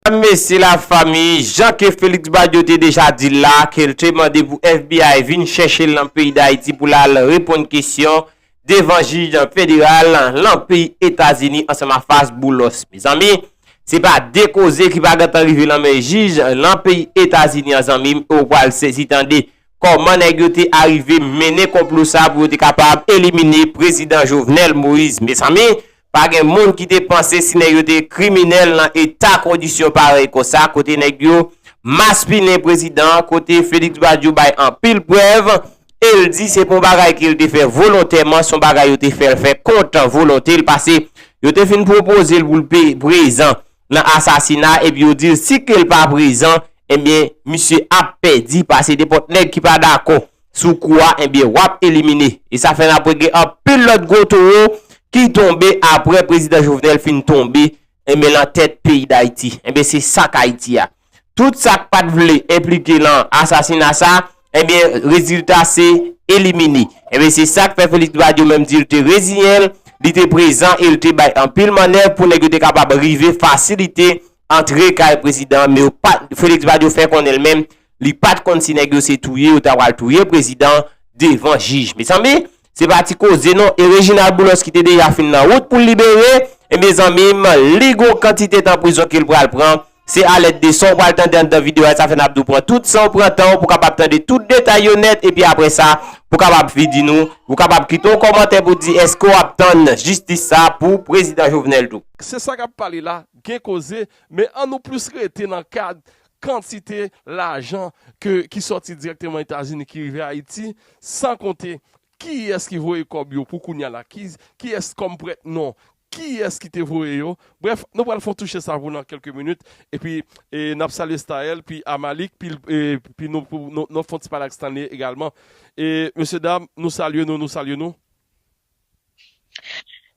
Medam mesye la fami, jan ke Felix Badio te deja di l la, ke l te mande pou FBI vin chèche l nan peyi Dayiti pou l al reponn kesyon devan jij nan federal lan peyi Etazini ansanm a Fas Boulos. Mezanmi, se pa de koze ki pa gentan rive lan men jij lan peyi Etazini an zanmi m e w pral sezi tande kòman nèg yo te arive mennen konplo sa pou yo te kapab elimine prezidan Jovenel Moise. Mezanmi, Pa gen moun ki te panse si nèg yo te kriminèl nan eta kondisyon parèy konsa kote nèg yo maspinen prezidan an kote Félix Badio bay anpil prèv e l di se pa yon bagay ke l te fè volontèman se yon bagay yo te fè l fè kont volonte l pase yo te fin pwopoze l pou l prezan nan asasina epi yo dil si kel pa prezan ebyen misye ap pèdi pase nenpòt nèg ki pa dakò sou kou a ebyen wap elimine e sa fè napwe gen anpil lòt gwo towo ki tonbe apre prezidan Jovenel fin tonbe ebyen nan tèt peyi dayiti ebyen se sak ayiti a. Tout sa k pat vle enplike lan asasina sa, ebyen rezilta se elimine. Ebyen se sa k fè Félix Badio menm di l te reziyen l, li te prezan e l te bay anpil mannèv pou nèg yo te kapab rive fasilite antre kay prezidan an men yo pat, Félix Badio fè konnen l menm li pat konn si nèg yo se touye yo ta pral touye prezidan devan jij. Mezanmi! Se pa ti koze non, e Reginald Boulos ki te deja fin nan wout pou l libere, e mezanmi m li gon kantite tan prizon ke l pral pran, se a lèd de sa w pral tande anndan videyo a, sa fè n ap di w pran tout san w, pran tan w pou w kapab tande tout detay yo nèt, epi apre sa pou w kapab vi di nou, ou kapab kite yon kòmantè pou w di èske w ap tann jistis sa pou Prezidan Jovenel tou. Se sa k ap pale la, gen koze, men an nou plis rete nan kad kantite lajan ke ki sòti dirèkteman Etazini ki rive Ayiti, san konte kiyès ki voye kòb yo pou kounya la, ki kiyès kòm prèt non, kiyès ki te voye yo, brèf, nou pral fè yon touche sa pou nan kèlke minit, epi e nap salye Staël, pi a Malick, pi e pi nou nou fè yon ti pale ak Stanley egalman. E mesye dam, nou salye nou, nou salye nou.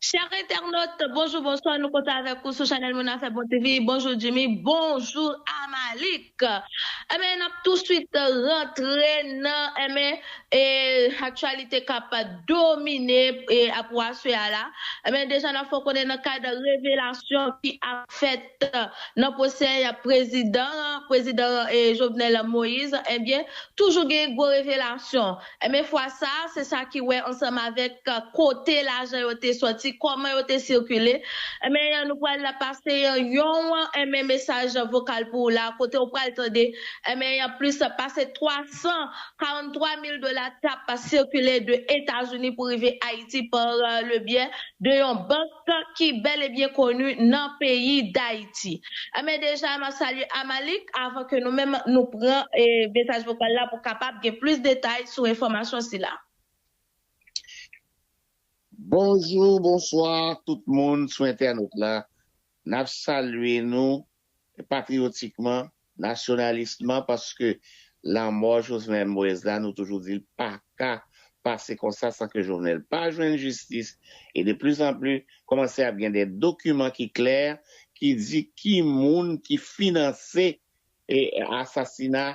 Chers internautes, bonjour, bonsoir, nou kontan avèk ou sou chanèl Moun Afè Bon TV, bonjour Djimy, bonjour Amalik. Enben nap touswit rantre nan enben aktyalite kap domine ap wase a la. Enben deja nap fè w konnen nan kad revelasyon ki ap fèt tèt nan pwosè prezidan prezidan Jovenel Moise ebyen toujou gen gwo revelasyon ebyen fwa sa se sa ki wè ansanm avèk kote lajan yo te sòti kòman yo te sikile ebyen nou pral pase yon ebyen mesaj vokal pou w la kote w pral tande ebyen plis pase 343 mil dola tap sikile de Etazini pou rive Ayiti pa le byè de yon bank. Tank ki bel e byen konu nan peyi Dayiti. Enben deja map salye Amalik avan ke nou menm nou pran mesaj vokal la pou kapab gen plis detay sou enfomasyon sila. Bonjou, bonswa tout moun sou entènot la. Nap salye nou patriyotikman, nasyonalistman paske lanmò Jovenel Moïse la nou toujou di l pa ka pase konsa san ke Jovenel pa jwenn jistis e de plis an plis kòmanse ap gen de dokiman ki klè ki di ki moun ki finanse asasina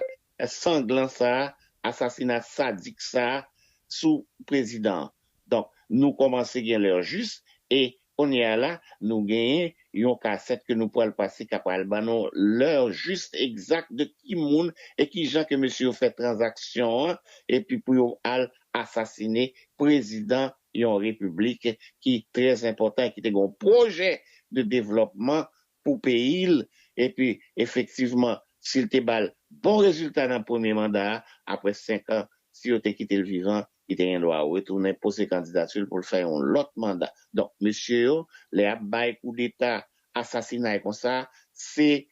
sanglan sa a, asasina sadik sa a sou prezidan an. Donk, nou kòmanse gen l'heure juste e kounye a la, nou genyen yon kasèt ke nou pwal pase ka pwal ban nou l'heure juste exacte de ki moun e ki jan ke mesye yo fè tranzaksyon an epi pou yo al asasine prezidan yon repiblik ki trè enpòtan e ki te gen yon pwojè de devlòpman pou peyi l epi efektivman si l te ba l bon rezilta nan premye manda a, aprè senk an si yo te kite l vivan li te gen dwa retounen poze kandidati l pou l fè yon lòt manda. Donk mesye yo lè y ap bay koudeta, asasinay konsa se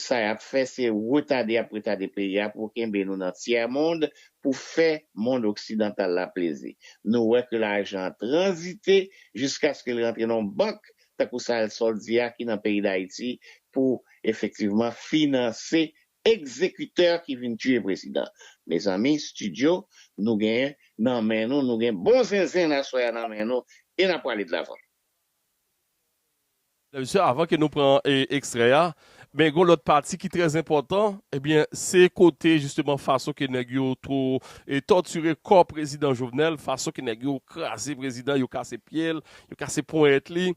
sa y ap fè se retade y ap retade peyi a pou kenbe nou nan tyèmond pou fè mond oksidantal la plezi. Nou wè ke lajan an tranzite jiskaske l rantre nan yon bank tankou sa El Sol di a, ki nan peyi Dayiti pou efektivman finanse egzekitè ki vin tiye prezidan. Mezanmi, Studio, nou gen nan men nou, nou gen bon zenzenn aswè a nan men nou e n ap prale dlavan. Mesye, avan ke nou pran ekstrè a, Men gon lòt pati ki trè enpòtan, ebyen se kote jisteman fason ke nèg yo tou e tòtire kò prezidan Jovenel, fason ke nèg yo kraze prezidan, yo kase pye l, yo kase ponyèt li,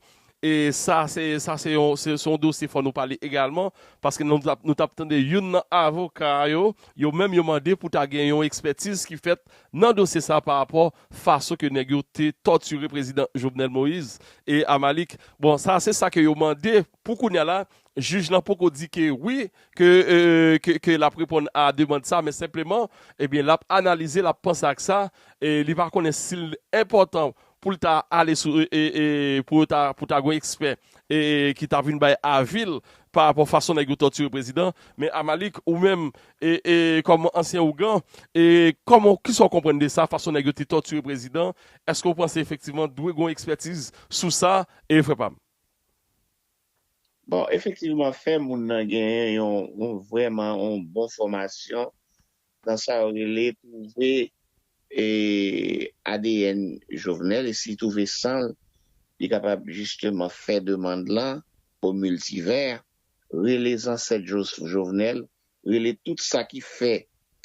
e sa se sa se yon se yon dosye fò nou pale egalman, paske nou tap nou tap tande youn nan avoka yo, yo menm yo mande pou ta gen yon ekspètiz ki fèt nan dosye sa parapò fason ke nèg yo te tòtire prezidan Jovenel Moïse e Amalik. Bon sa se sa ke yo mande. Pou kounya la, jij lan poko di ke wi ke ke lap reponn a demand sa men senpleman ebyen lap analize lap panse ak sa e li pa konnen sil enpòtan poul ta ale sou e pou yo ta pou ta gon ekspè e ki ta vin bay avil pa rapò fason nèg yo tòtire prezidan men a Malik ou menm e e kòm ansyen ougan e kòman kisa ou konprann de sa fason nèg yo te tòtire prezidan èske ou panse efektivman dwe gon ekspètiz sou sa e frè pam. Bon, efektivman fè moun nan genyen yon vrèman yon bon fòmasyon nan sa yo rele twouve adn Jovenel e si li twouve san l, li kapab jisteman fè demand lan o miltivè, rele zansèt Jovenel rele tout sa ki fè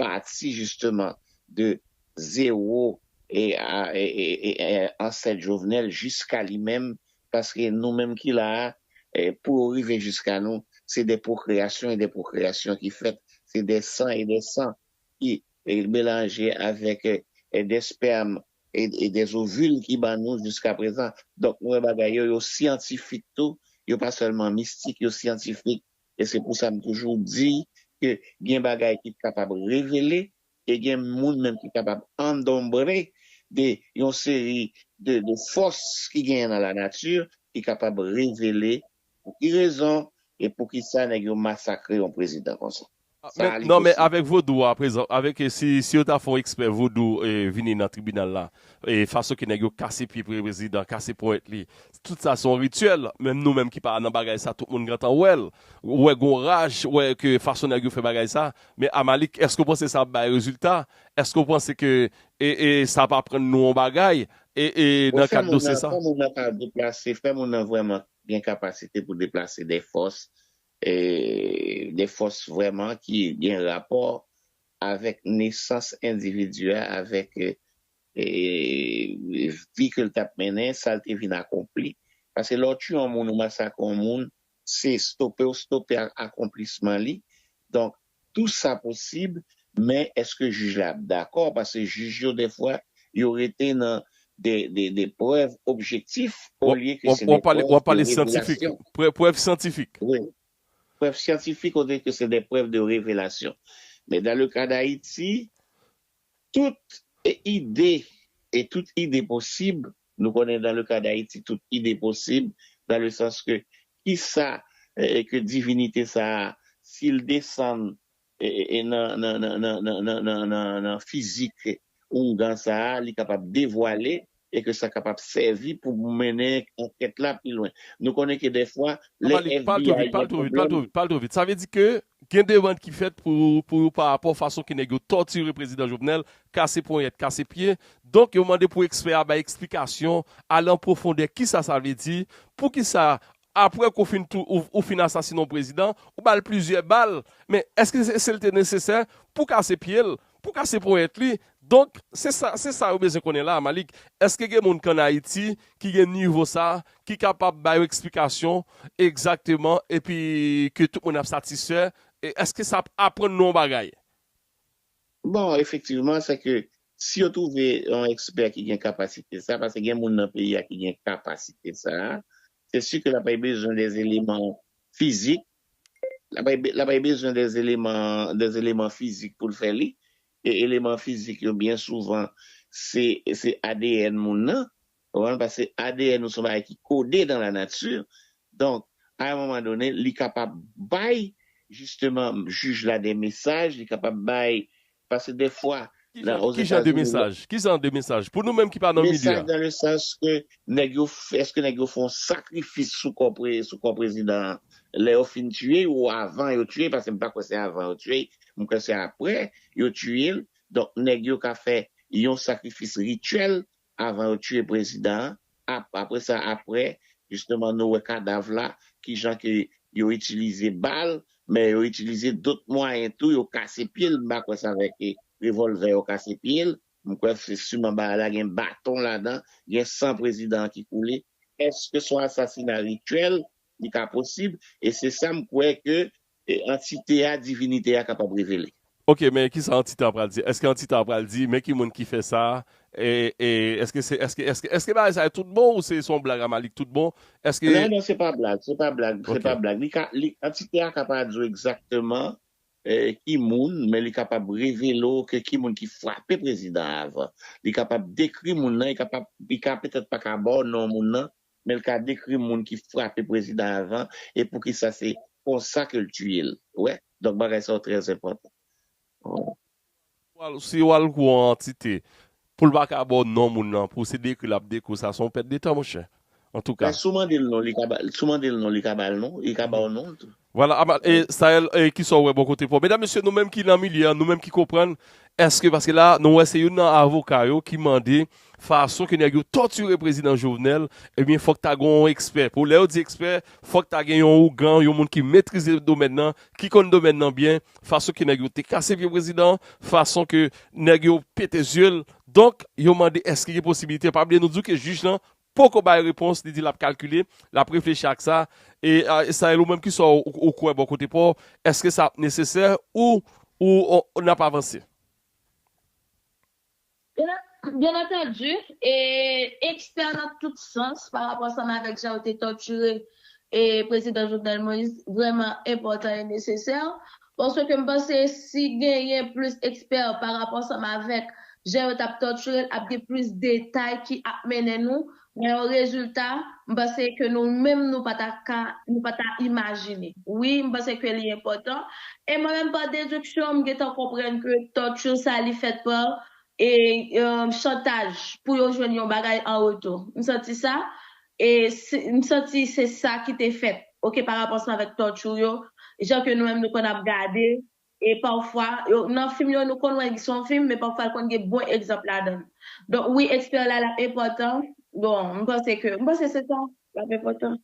pati jisteman de zewo ansèt Jovenel jiska li menm, paske nou menm ki la a, pou yo rive jiska nou, se de pwokreyasyon e de pwokreyasyon ki fèt, se de san e de san ki melanje avèk de spèm e de ovil ki ban nou jiska prezan. Donk, mwen wè bagay yo, yo syantifik tou, yo pa sèlman mistik, yo syantifik. E se pou sa m toujou di ke gen bagay ki kapab revele e gen moun menm ki kapab andombre de yon seri de fòs ki genyen nan lanati ki kapab revele pou ki rezon e pou ki sa nèg yo masakre yon prezidan konsa. Non men avèk vodou a prezanp avèk si yo ta fè yon ekspè vodou vini nan tribinal la fason ke nèg yo kase pye premye prezidan kase ponyèt li tout sa se yon rityèl menm nou menm ki pa nan bagay sa tout moun gentan wèl ou wè gon raj ou wè ke fason nèg yo fè bagay sa men Amalik èske ou panse sa ap bay rezilta èske ou panse ke sa ap aprann nou yon bagay nan kad dosye sa. Fè moun nan ka deplase fè moun nan vrèman gen kapasite pou deplase de fòs E de fòs vrèman ki gen rapò avèk nesans endividi a, avèk vi ke l t ap mennen, sa l te vin akonpli. Paske lè w tiye yon moun, ou masakre yon moun, se stope, ou stope akonplisman li. Donk, Tou sa posib, men eske jij la ap dakò pase jij yo dèfwa yo rete nan de prèv objektif olye ke se de prèv de revelasyon. Prèv syantifik. Wi. Prèv syantifik olye ke se de prèv de revelasyon. Men dan le ka dAyiti, Tout ide e tout ide posib, nou konnen dans le cas d'Haïti tout ide posib dans le sens ke kisa ke divinite sa a si l desann nan fizik oungan sa a li kapab devwale. e ke sa kapab sèvi pou mennen ankèt la pi lwen. Nou konnen ke dèfwa, lè Malik, FBI pale two vit, pale gen two vit, pale pwoblèm. two vit, pale two vit. Sa vle di ke gen demand ki fèt pou pou yo pa rapò fason ke nèg yo tòtire Prezidan Jovenel, kase ponyèt, kase pye. Donk yo mande pou ekspè a bay eksplikasyon, ale an pwofondè kisa sa vle di, poukisa Apre ke w fin tou ou fin asasine yon prezidan, ou ba l plizyè bal, men èske se l te nesesè pou w kase pye l, pou w kase ponyèt li? Donk, se sa, se sa yo bezwen konnen la a, Malick, èske gen moun kan Ayiti ki gen nivo sa a, ki kapab ba yo eksplikasyon egzakteman epi ke tout moun ap satisfè, èske sa ap aprann nou yon bagay? Bon, efektivman, se ke si yo twouve yon ekspè ki gen kapasite sa, pase gen moun nan peyi a ki gen kapasite sa, se si ke l apay bezwen de eleman fizik, l apay bezwen de eleman, de eleman fizik pou l fè li, e eleman fizik yo byen souvan se ADN moun nan, Konprann? Paske adn ou son bagay ki kode dan la nati, donk a yon moman done li kapab bay jisteman jij la de mesaj, li kapab bay, paske de fwa nan ozetazini. Kijan de mesaj? Pou nou menm ki pa nan milye a. Mesaj dan le sans ke nèg yo, eske nèg yo fè yon sakrifis sou kò prezidan an lè yo fin tiye l ou avan yo tiye l, paske m pa kwè se avan yo tiye l, m kwè se aprè yo tiye l, donk nèg yo ka fè yon sakrifis rityèl avan yo tiye prezidan an ap apre sa apre jisteman nou wè kadav la kijan ke yo itilize bal men yo itilize dot mwayen tou yo kase pye l m pa kwè se avèk revòlvè yo kase pye l m kwè se siman bagay la gen baton ladan gen san prezidan an ki koule èske son asasina rityèl li ka posib e se sa m kwè ke E antite a, divinite a kapab revele. Ok, men kisa antite a pral di? Eske antite a pral di, men ki moun ki fè sa? E, e, eske se, eske, eske, eske bagay sa yo tout bon ou se, se yon blag Amalik tout bon? Eske. Non, non, se pa blag, se pa blag, se Ok. pa blag. Li ka, li, antite a ka pa di w egzakteman e, ki moun, men li kapab revele w ke ki moun ki frape prezidan a avan. Li kapab dekri moun nan, li kapab, li ka petèt pa ka ba w non moun nan, Men l ka dekri moun ki frape prezidan avan e poukisa se konsa ke l tiye l. Ou wè? Donk bagay sa yo trè enpòtan. Si w al kou yon antite, pou l pa ka ba w non moun lan, pou se dekri l ap dekri w, sa se yon pèt de tan monchè. Antouka. Men si w mande l non, li ka ba w non, li ka ba w non l tou. Voilà a e Saël e kisa ou wè bò kote paw? Medam mesye nou menm ki nan milye an nou menm ki konprann eske paske la nou wè se youn nan avoka yo ki mande fason ke nèg yo tòtire prezidan Jovenel ebyen fòk ta gon yon ekspè pou lè yo di ekspè fòk ta gen yon ougan yon moun ki metrize domèn nan ki konn domèn nan byen fason ke nèg yo te kase pye prezidan an fason ke nèg yo pete zye l donk yo mande eske gen posibilite pa bliye nou di w ke jij lan poko bay repons li di lap kalkile lap reflechi ak sa e Sael ou menm kisa ou kwè bò kote paw eske sa ap nesesè ou ou nap avanse. Byen antandu e ekstè nan tout sans pa rapò sa menm avèk jan yo te tòtire e prezidan Jovenel Moïse vrèman enpòtan e nesesè Paske m panse si genyen plis ekspè pa rapò ansanm avèk jan yo t ap tòture l ap gen plis detay ki ap mennen nou nan yon rezilta m panse ke nou menm nou pa ta ka nou pa ta imajine. Wi m panse ke li enpòtan e mwen menm pa deduction m gentan konprann ke tòture sa li fèt pa e chantaj pou yo jwenn yon bagay an retou. M santi sa E m santi se sa ki te fèt ok pa rapò sa avèk tòch ou yo jan ke nou menm nou konn ap gade e pafwa yo nan fim yo nou konn wè se yon fim men pafwa l konn gen bon egzanp ladan l donk wi ekspè la l ap enpòtan bon m panse ke m panse se sa l ap enpòtan.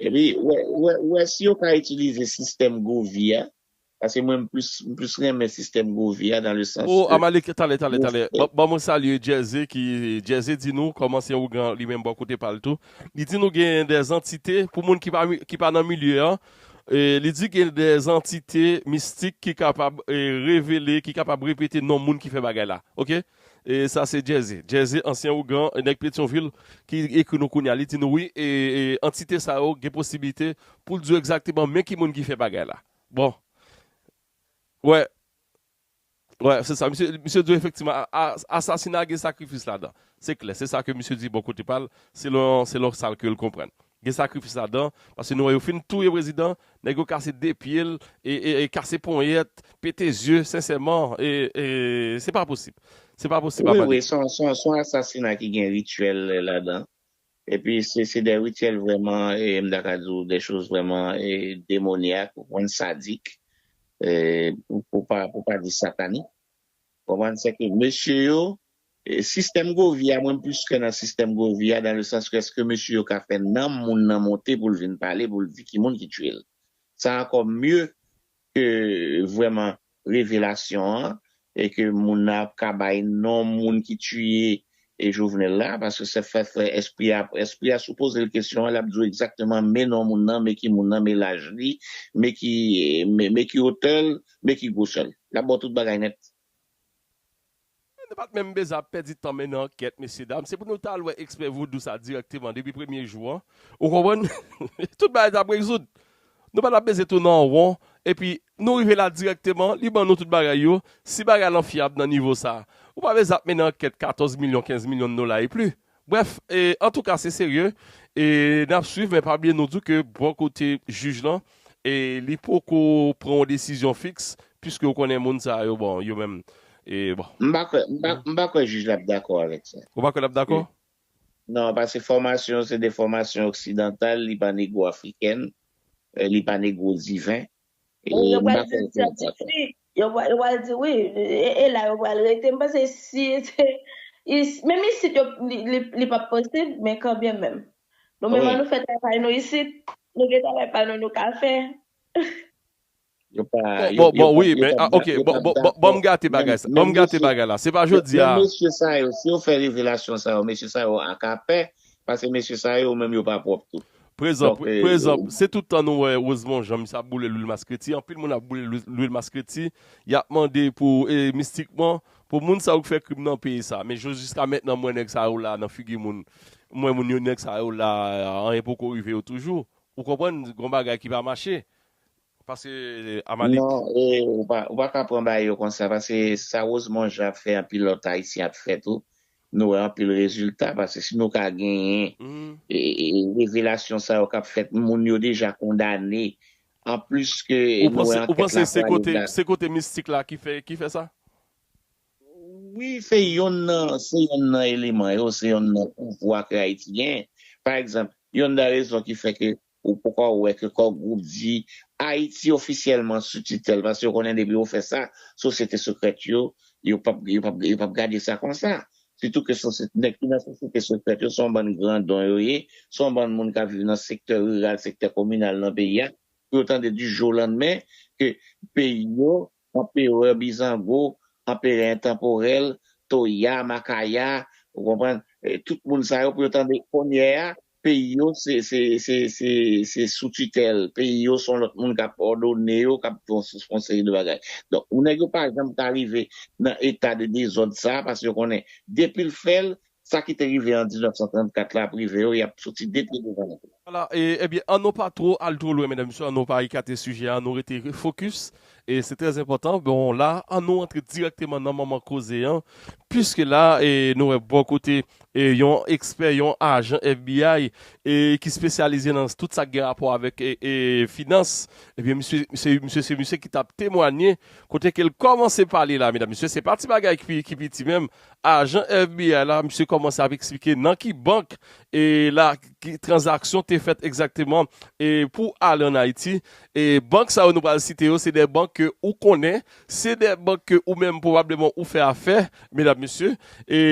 Epi ou wè si yo ka itilize sistèm Govia Paske mwen m plis renmen sistèm Govi a dan le sans ke. Oh Amalek talè talè talè ban mwen salye Jersey ki Jersey di nou kòm ansyen ougan li menm bò kote pa l tou li di nou gen dè zantite pou moun ki pa nan milye an li di gen dè zantite mistik ki kapab revele ki kapab repete non moun ki fè bagay la ok. E sa se Jèze. Jèze, ansyen ougan, nèg Petyonvil, ki ekri nou kounye a, li di nou wi, e antite sa yo gen posiblite pou l di w egzakteman men ki moun ki fè bagay la. Bon. Wè. Wè, se sa. Misye, misye di w efektivman a, asasina gen sakrifis ladan. Se klè. Se sa ke misye di bò kote pa l, selon, selon sa l, ke l konprann. Gen sakrifis ladan, paske nou wè yo fin touye prezidan, nèg yo kase 2 pyel, e kase ponyèt, pete zye, sensèman, se pa posib. Se pa posib a Malik. Wi wi, se yon asasina ki gen rityèl ladan. Epi se de rityèl vrèman, m ta ka di w de choz vrèman demonyak, ou konprann, sadik, pou pa di satanik. Konprann se ke mesye yo, sistèm Govi a mwen m plis kwè nan sistèm Govi a dan le sans ke eske mesye yo ka fè nanm moun nan monte pou l vin pale pou l di ki moun ki tiye l. Sa ankò mye ke vrèman revelasyon an e ke moun nan ap ka bay non moun ki tiye E jovenel la paske se fè fè espri a espri a sou pozel kesyon an lap diw egzakteman me non moun nan me ki moun nan me laj li me ki me ki otèl me ki gwosèl lap baw tout bagay nèt. Nou pat menm bezwen ap pèdi tan mennen ankèt mesye dam se pou nou tal wè ekspè vodou sa dirèkteman depi premye jou an ou konprann tout bagay tap rezoud Nou pa tap bezyen tounen an won epi nou rive la dirèkteman li ban nou tout bagay yo si bagay lan fyab nan nivo sa ou pa bezyen ap mennen ankèt 14 milyon 15 milyon dola e pli brèf antouka se serye e nap swiv men pa bliye nou di ke bò kote jij lan e li poko pran yon desizyon fiks piske ou konnen moun sa yo bon yo menm e bon. M pa kwè jij la ap dakò avèk sa. Ou pa kwè lap dakò? Non, pase fòmasyon se de fòmasyon oksidantal, li pa negro-afrikèn, li pa negro-diven. E Yo pral di l syantifik, yo pral di wi, e la yo pral rete. M panse si se isi, menm isit yo, li p ap posib, men kanbyenmenm. Nou menm an nou fè travay nou isit, nou gen travay pa nou nou ka fè. Yo pa, yo pa, yo pa, yo pa, yo pa dakò. Bon m gate bagay sa, bon m gate bagay la. Se pa jodi a. Men mesye sa yo, si yo fè revelasyon sa yo, mesye sa yo a ka pè, pase mesye sa yo, yo menm yo pa pwòp tou. Prezanp, prezanp, se tout tan nou wè Rosemond Jean misye ap boule lwil maskreti, anpil moun ap boule lwil maskreti, y ap mande pou e mistikman, pou moun sa yo ki fè krim nan peye sa. Men jous jiska mentnan m wè nèg sa yo la nan figi moun, m wè moun yo nèg sa yo la, anyen poko rive yo toujou. Ou konprann, gon bagay ki pa mache. Paske Amalik. Non ou pa ka pran bagay yo konsa paske sa Rosemond Jean ap fè anpil lòt Ayisyen ap fè tou nou wè anpil rezilta paske si nou ka genyen revelasyon sa yo kap fèt moun yo deja kondane anplis ke nou wè ankèt la pwale. Ou panse se kote mistik la ki fè sa? Wi se yonn nan eleman yo se yonn nan pouvwa ke Ayiti genyen pa egzanp yonn nan rezon ki fè ke Ou poko wè ke Core Group di Ayiti ofisyèlman sou titèl paske yo konnen depi yo fè sa, sosyete sekrèt yo, yo pap yo pap yo pap gade sa konsa. Sitou ke sosyete nèg ki nan sosyete sekrèt yo se yon bann grandon yo ye, se yon bann moun kap viv nan sektè riral, sektè kominal nan peyi a, pou yo tande di jou o landmen ke peyi yo Anperè Bizango, Anperè Entanporèl, Toya, Makaya, ou konprann, tout moun sa yo pou yo tande konyè a peyi yo se sou titèl, peyi yo se yon lòt moun k ap òdone yo, k ap fè yon seri de bagay. Donk, nèg yo pa janm ka rive nan eta de dezòd sa a paske yo konnen depi l fè l, Sa ki te rive an 1934 la ap rive yo, y ap fouti detwi devan nèt la. Ala e, ebyen an nou pa two al two lwen medam mesye, an nou pa ekate sijè a, an nou rete fokis, e se trè enpòtan, bon la an nou antre dirèkteman nan manman koze an, piske la e nou wè bò kote e yon ekspè, yon ajan FBI e ki spesyalize nan tout sa ki gen rapò avèk e e finans, ebyen misye se misye se misye ki t ap temwanye, kote ke l kòmanse pale la medam mesye, se pa ti bagay ki ki piti menm, Ajan FBI la misye kòmanse ap eksplike nan ki bank e la tranzaksyon te fèt egzakteman e pou ale an Ayiti e bank sa yo nou pral site yo se de bank ke ou konnen se de bank ke ou menm pwobableman ou fè afè medam mesye e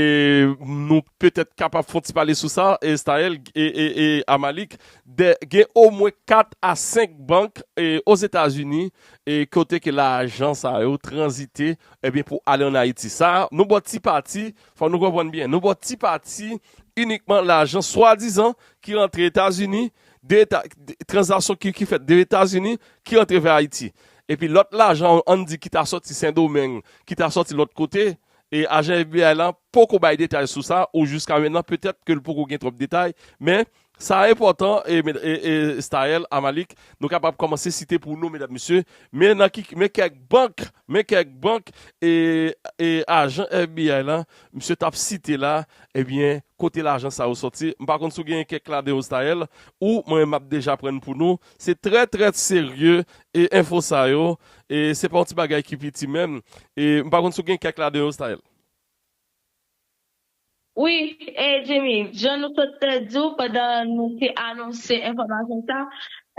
nou petèt kapab fon ti pale sou sa Estael e Amalik de gen omwen 4 a 5 bank e Ozetazini e kote ke lajan sa yo tranzite ebyen pou ale an Ayiti. Sa a nou bò ti pati, fò nou konprann byen, nou bò ti pati inikman lajan swadizan ki rantre Etazini, de eta, tranzaksyon ki fèt de Etazini ki rantre vè Ayiti. Epi lòt lajan an n di ki ta sòti Sendomeng, ki ta sòti lòt kote, e ajan FBI lan poko bay detay sou sa ou jiska mentnan petèt ke l poko gen twòp detay, men Sa a enpòtan e Staël, Amalik, nou kapab kòmanse site pou nou medam mesye, men nan ki men kèk bank, men kèk bank e e ajan FBI la misye t ap site la ebyen kote lajan sa yo sòti, m pa konn si w genyen kèk ladan yo Staël ou mwen menm m ap deja pran pou nou se trè trè serye e enfo sa yo e se pa yon ti bagay ki piti menm e m pa konn si w gen kèk ladan yo Staël. Wi, e Jimmy, jan nou sot te di w pandan nou te anonse enfòmasyon sa,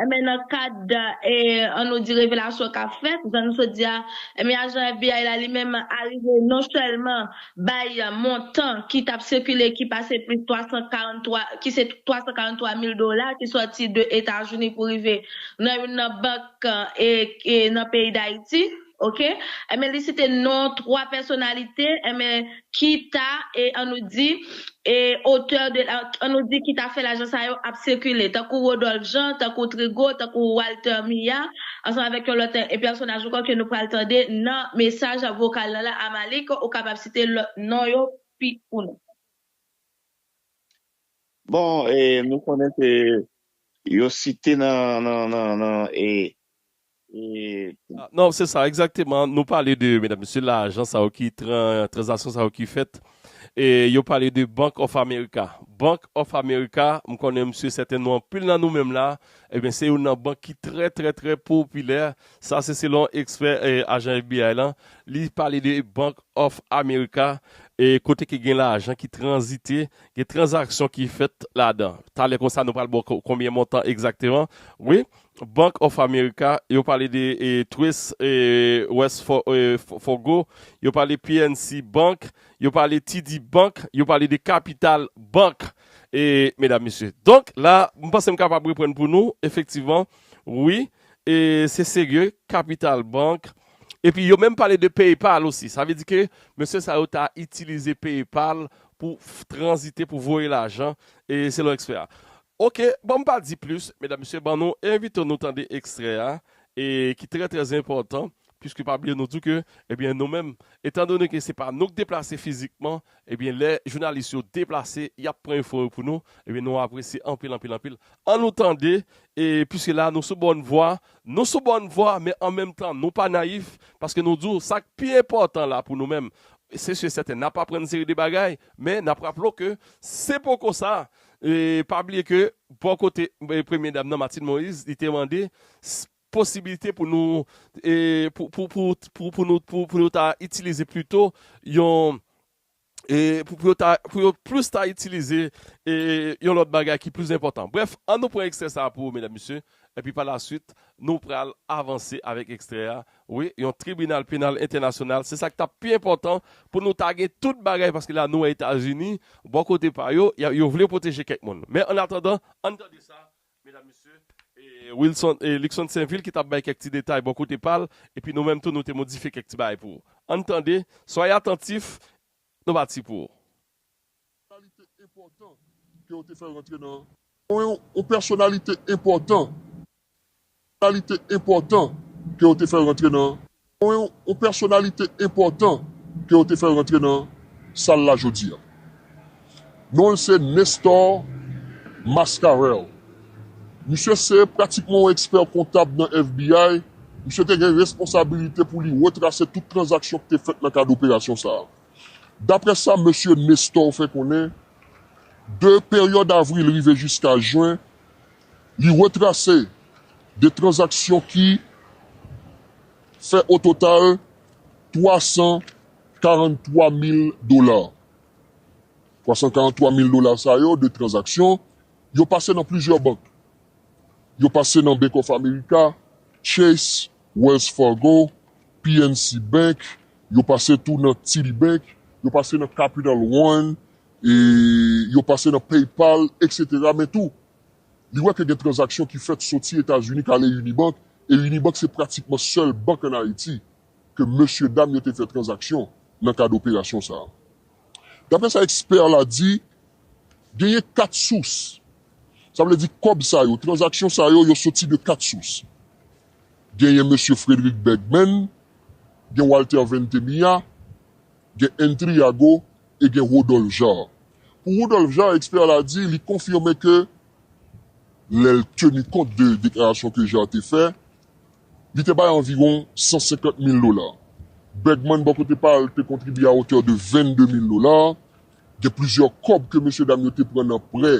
enben nan kad e an nou di revelasyon k ap fèt, jan nou sot di a, enben ajan FBI la li menm arive non sèlman bay montan ki t ap sikile ki pase plis 343, ki se 343 mil dola ki sòti de Etazini pou rive nan youn nan bank e nan peyi Dayiti. Ok enben li site non 3 pèsonalite enben ki ta e an nou di e otè de la an nou di ki ta fè lajan sa yo ap sikile tankou Rodolphe Jean tankou Trigo tankou Walter Mia ansanm avèk yon lòt e pèsonaj ankò ke nou pral tande nan mesaj vokal nan la a Malick ou kapab site lòt non yo pi pou nou. Bon e nou konnen ke yo site nan nan nan e e. Non, se sa, egzakteman, nou pale de, medam, mesye, lajan sa yo ki tran, tranzaksyon sa yo ki fèt, e yo pale de Bank of America. Bank of America, m konnen m si e sèten nou anpil nan nou menm la, ebyen se youn nan bank ki trè trè trè popilè, sa se selon ekspè e ajan FBI lan, li pale de Bank of America, e kote ki gen lajan ki tranzite, gen tranzaksyon ki fèt ladan. Talè konsa nou pral ba w konbyen montan egzakteman, wi. Bank of America, yo pale de Truist West Forgo, yo pale PNC Bank, yo pale TD Bank, yo pale de Capital Bank, medam mesye. Donk, la, m panse m kapab reprann pou nou, efektivman, wi, se serye, Capital Bank, epi yo menm pale de PayPal osi, sa vle di ke mesye sa yo ta itilize PayPal pou tranzite, pou voye lajan, selon ekspè a. Ok bon m pa di plis medam mesye ban nou envite nou tande ekstrè a e ki trè trè enpòtan puiske pa bliye nou di w ke ebyen nou menm etan done ke se pa nou k deplase fizikman ebyen lè jounalis yo deplase yap pran enfo yo pou nou ebyen nou apresye anpil anpil anpil an nou tande e puiske la nou sou bòn vwa nou sou bòn vwa men an menm tan nou pa nayif paske nou di w sa k pi enpòtan la pou nou menm se si e sèten nap aprann seri de bagay men nap raple w ke se poko sa Pa bliye ke bò kote Premye Dam nan Martine Moïse li te mande posibilite pou nou pou yo ta itilize plito yon pou yo plis ta itilize yon lòt bagay ki plis enpòtan. Brèf, an nou pran ekstrè sa pou ou medam mesye. Epi pa la swit nou pral avanse avèk ekstrè a, wi, yon tribinal penal entènasyonal, se sa k t ap pi enpòtan pou nou ta gen tout bagay paske la nou wè Etazini, bò kote pa yo, y a yo vle pwoteje kèk moun. Men an atandan, ann tande sa, medam mesye, e Wilson e Luckson Sainvil ki t ap bay kèk ti detay bò kote pa l, epi nou menm tou nou te modifye kèk ti bagay pou ou. Ann tande, soyez attentifs, nou pati pou. Pèsonalite enpòtan ke yo te fè rantre nan. Yon pèsonalite enpòtan. Pèsonalite enpòtan ke yo te fè rantre nan. Yon pèsonalite enpòtan ke yo te fè rantre nan sal la jodi a. Non l se Nestor Mascarell. Misye se pratikman yon ekspè kontab nan FBI. Misye te gen responsabilite pou li retrase tout tranzaksyon ki te fèt nan kad operasyon sa a. Daprè sa Mesye Nestor fè konnen, de peryòd avril rive jiska jen, li retrase de tranzaksyon ki fè ototal 343 mil dola. 343 mil dola sa yo de tranzaksyon, yo pase nan plizyè bank. Yo pase nan Bank of America, Chase, Wells Fargo, PNC Bank, yo pase tou nan TD Bank, yo pase nan Capital One, e yo pase nan PayPal, etc. Men tou, li wè ke gen tranzaksyon ki fèt soti Etazini kale Unibank, e Unibank se pratikman sèl bank an Ayiti ke mesyedam yo te fè tranzaksyon nan kad operasyon sa a. Dapre sa ekspè la di, genyen 4 sous. Sa vle di kòb sa yo, tranzaksyon sa yo, yo soti de 4 sous. Genyen Mesye Frederick Bergman, gen Walter Veintemilla, gen Henn Triago e gen Rodolphe Jaar. Pou Rodolphe Jaar, ekspè la di li konfime ke lè l teni kont de deklarasyon ke Jaar te fè, li te bay anviwon 150 mil dola. Bergman bò kote pa l te kontribye a otè de 22 mil dola. Gen plizyè kòb ke mesye dam yo te pran nan prè.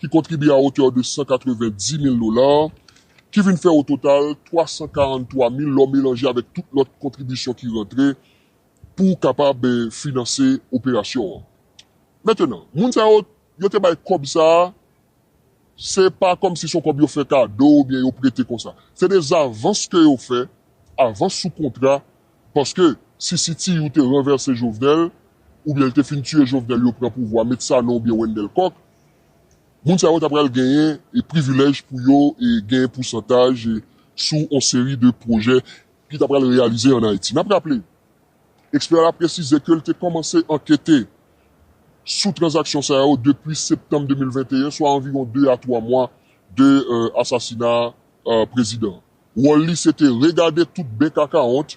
ki kontribye a otè de 190 mil dola, ki vin fè ototal 343 mil lè w melanje avèk tout lòt kontribisyon ki rantre pou kapab finanse operasyon an. Mentenan, moun sa yo, yo te bay kòb sa a, se pa kòm si son kòb yo fè kado oubyen yo prete konsa. Se de zavans ke yo fè, avans sou kontra, paske si CTU te ranvèse Jovenel, oubyen l te fin tiye Jovenel yo pran pouvwa, met Sanon oubyen Wendel Coq, moun sa yo ta pral genyen privilèj pou yo genyen pousantaj sou yon seri de pwojè ki ta pral reyalize an Ayiti. N ap raple, ekspè la presize ke l te kòmanse ankete sou tranzaksyon sa yo depi septanm 2021, swa anviwon 2 a 3 mwa de asasina prezidan an. Wòl li se te regade tout bèk akawont,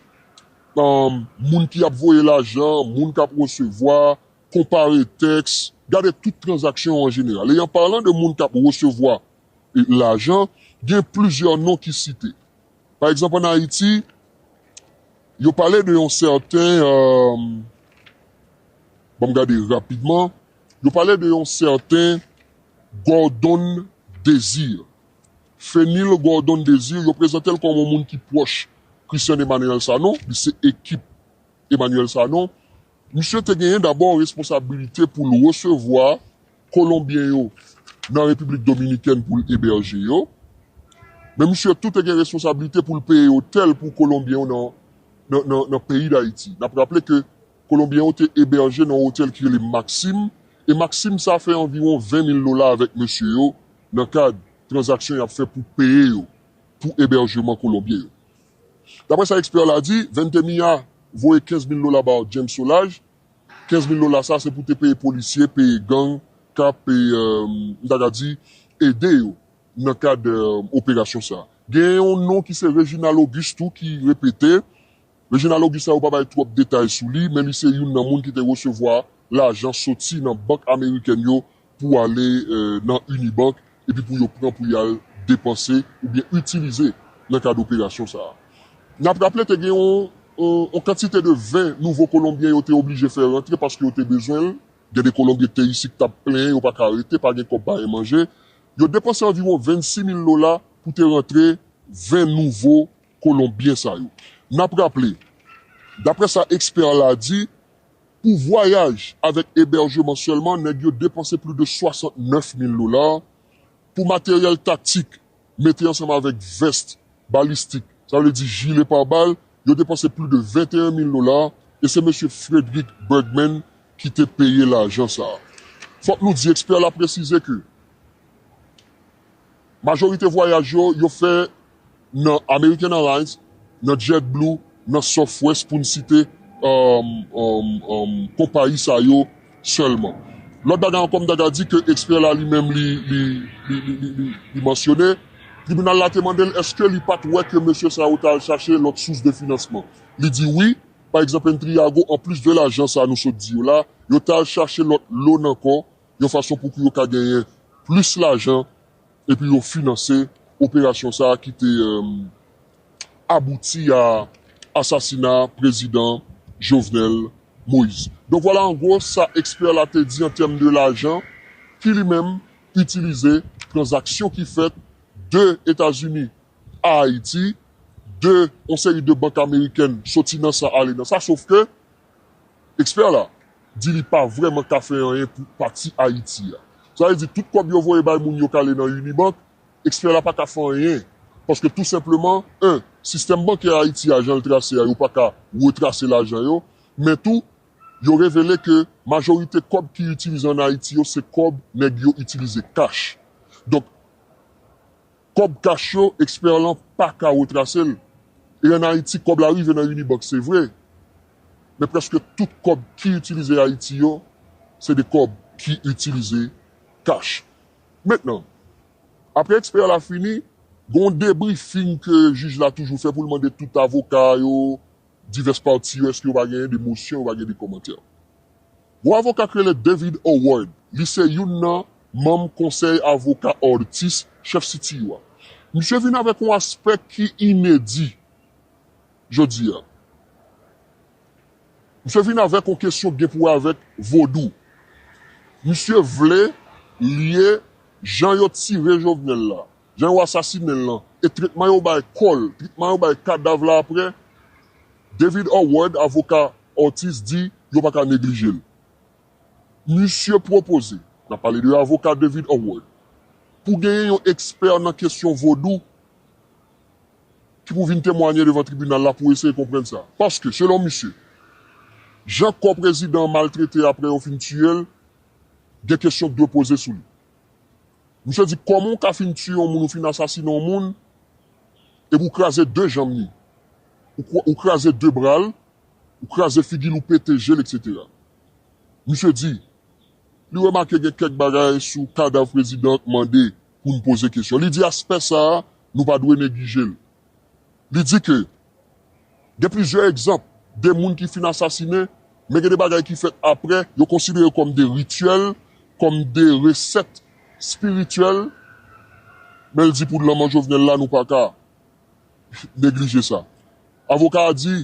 moun ki ap voye lajan, moun k ap resevwa, Konpare tèks, gade tout tranzaksyon an jeneral. E an palan de moun k ap resevwa lajan, gen plizyè non ki site. Pa egzanp an Ayiti, yo pale de yon sèten, ban m gade rapidman, yo pale de yon sèten Gordon Désir. Fenil Gordon Désir, yo prezante l kòm yon moun ki pwòch Christian Emmanuel Sanon, li se ekip Emmanuel Sanon. Misye te genyen dabò responsabilite pou l resevwa Kolonbyen yo nan Repiblik Dominikèn pou l ebèje yo, men misye tou te gen responsabilite pou l peye otèl pou Kolonbyen yo nan peyi Dayiti. N ap raple ke Kolonbyen yo te ebèje nan yon otèl ki rele Maxim, e Maxim sa fè anviwon 20 mil dola avèk mesye yo nan kad tranzaksyon y ap fè pou peye yo pou ebèjeman Kolonbyen yo. Daprè sa ekspè la di, Ventemi a voye 15 mil dola ba James Solaj, 15 mil dola sa se pou te peye polisye, peye gang k ap, m ta ka di, ede yo nan kad operasyon sa. Gen yon non ki se Reginald Auguste tou ki repete. Reginald Auguste sa yo pa bay twòp detay sou li, men li se youn nan moun ki te resevwa lajan soti nan bank amerikèn yo pou ale nan Unibank epi pou yo pran pou y al depanse oubyen itilize nan kad operasyon sa a. N ap raple te gen yon kantite de 20 nouvo Kolonbyen yo te oblije fè rantre paske yo te bezwen l. Gen de Kolonbyen ki te isi ki t ap plenyen yo pa ka rete, pa gen kòb, pa gen manje. Yo depanse anviwon 26 mil dola pou te rantre 20 nouvo Kolonbyen sa yo. N ap raple, daprè sa ekspè an la di, Pou vwayaj avèk ebèjeman sèlman, nèg yo depanse plis de 69 mil dola pou materyèl taktik, mete ansanm avèk vest balistik, sa vle di jile pa bal, yo depanse plis de 21 mil dola e se mesye Frederick Bergman ki te peye lajan sa a. Fòk nou di ekspè la presize ke. Majorite vwayaj yo, yo fè nan American Airlines, nan JetBlue, nan Southwest pou n site konpayi sa yo sèlman. Lòt bagay ankò m ta ka di ke ekspè la li menm li mansyone, tribinal la te mande l èske li pa t wè ke mesye sa yo ta al chache lòt sous de finansman. Li di wi, pa egzanp Intriago anplis de lajan sa nou sot di yo la, yo ta al chache lòt loan ankò yon fason pou ki yo ka genyen plis lajan epi yo finanse operasyon sa a ki te abouti a asasina prezidan Jovenel Moise. Donk vwala an gwo sa ekspè la te di an tèm de lajan ki li menm itilize tranzaksyon ki fèt de Etazini a Ayiti, de yon seri de bank amerikèn soti nan sa ale nan sa sof ke. Ekspè la di li pa vrèman ka fè anyen pou pati Ayiti a. Sa vle di tout kòb yo voye bay moun yo k ale nan Unibank, ekspè la pa ka fè anyen paske tou senpleman 1 sistèm bankè Ayiti a jan l trase a yo pa ka retrase lajan yo men tou yo revele ke majorite kòb ki itilize an Ayiti yo se kòb nèg yo itilize kach donk Kòb kach yo, ekspè lan pa ka retrase l. E an Ayiti, kòb la rive nan Unibank se vre, men prèske tout kòb ki itilize Ayiti yo, se de kòb ki itilize kach. Mentnan, apre ekspè la fini, gen yon debrifing ke jij la toujou fè pou l mande tout avoka yo, Divès pati yo eske yo pa genyen de mosyon, yo pa genyen de kòmantè? Gon avoka ki rele David Howard, li se youn nan manm konsèy avoka Ortiz, chèf CTU a. Misye vin avèk yon aspè ki inedi jodi a. Misye vin avèk yon kesyon ki gen pou wè avèk vodou. Misye vle lye jan yo tire Jovenel la Jan yo asasinen l lan e tretman yo bay kò l, tretman yo bay kadav la aprè, David Howard, avoka Ortiz di yo pa ka neglije l. Misye pwopoze, n ap pale de avoka David Howard, pou genyen yon ekspè nan kesyon vodou ki pou vin temwanye devan tribinal la pou eseye konprann sa. Paske, selon misye, jan kò prezidan an maltrete aprè yo fin tiye l, gen kesyon k dwe poze sou li. Misye di kòman ou ka fin tiye yon moun ou fin asasine yon moun epi ou kraze 2 janm li ou kraze 2 bra l ou kraze figi l ou pete je l etc. Misye di li remake gen kèk bagay sou kadav prezidan k mande pou n poze kesyon li di aspè sa nou pa dwe neglije l Li di ke gen plizyè egzanp de moun ki fin asasinen, men gen de bagay ki fèt aprè, yo konsidere kòm de rityèl, kòm de resèt spirityèl, men l di pou lanmò Jovenel la nou pa ka neglije sa. Avoka a di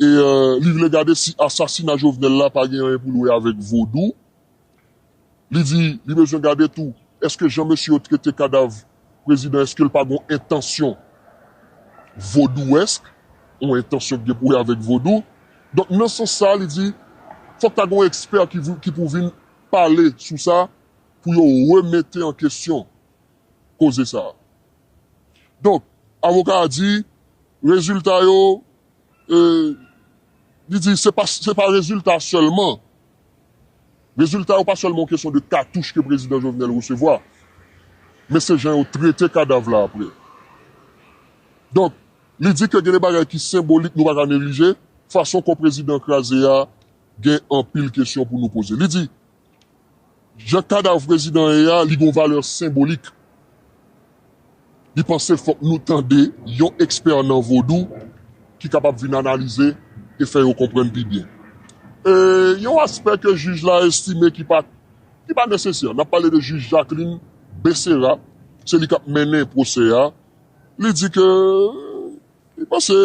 li vle gade si asasina Jovenel la pa gen anyen pou l wè avèk vodou, Li di li bezwen gade tou èske jan mesye yo trete kadav prezidan èske l pa gon entansyon vodouesk, yon entansyon ki gen pou wè avèk vodou. Donk nan sans sa li di fòk ta gen yon ekspè ki pou vin pale sou sa pou yo remete an kesyon koze sa. Donk avoka a di rezilta yo li di se pa rezilta sèlman Rezilta yo pa sèlman yon kesyon de katouch ke Prezidan Jovenel resevwa, men se jan yo trete kadav la apre. Donk, li di ke gen de bagay ki senbolik nou pa ka neglije, fason kò Prezidan kraze a gen anpil kesyon pou nou poze. Li di, Jan kadav Prezidan ye a, li gen yon valè senbolik. Li panse fòk nou tande yon ekspè nan vodou ki kapab vin analize e fè yo konprann pi byen. E yon aspè ke jij la estime ki pa ki pa nesesè. N ap pale de jij Jacqueline Becerra, se li k ap mennen pwosè a. Li di ke li panse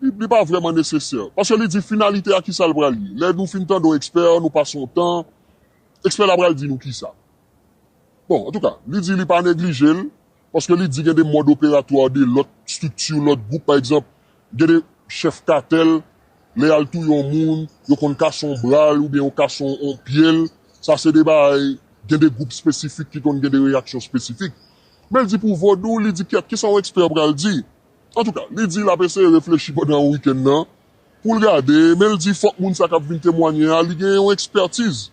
li pa vrèman nesesè. Paske li di finalite a kisa l pral ye. Lè nou fin tande yon ekspè, nou pase yon tan, ekspè la pral di nou kisa. Bon, antouka, li di li pa neglije l, paske li di gen de mòd operatwa de lòt strikti, lòt gwoup. Pa egzanp, gen de chèf katèl, lè y al touye yon moun, yo konn kase yon bra l oubyen yo kase yon pye l. Sa se de bagay, gen de gwoup espesifik ki konn gen de reyaksyon espesifik. Men l di pou vodou, li di kyèt, kisa yon ekspè pral di? Antouka, li di l ap eseye reflechi pandan wikenn nan pou l gade, men l di fòk moun sa k ap vin temwanye a, li gen yon ekspètiz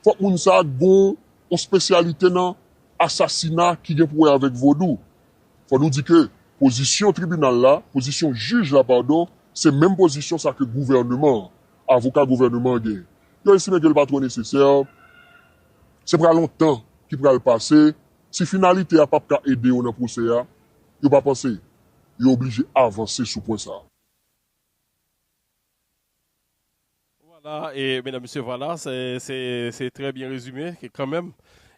Fòk moun sa a gon yon spesyalite nan asasina ki gen pou wè avèk vodou. Fò nou di ke pozisyon tribinal la, pozisyon jij la padon, se menm pozisyon sa ke gouvèneman an, avoka gouvèneman an genyen. Yo estime ke l pa twò nesesè, se pral yon tan ki pral pase, si finalite a pap ka ede yo nan pwosè a, yo pa panse yo oblije avanse sou pwen sa. Vwala e medan mesye vwala se trè byen rezime kan menm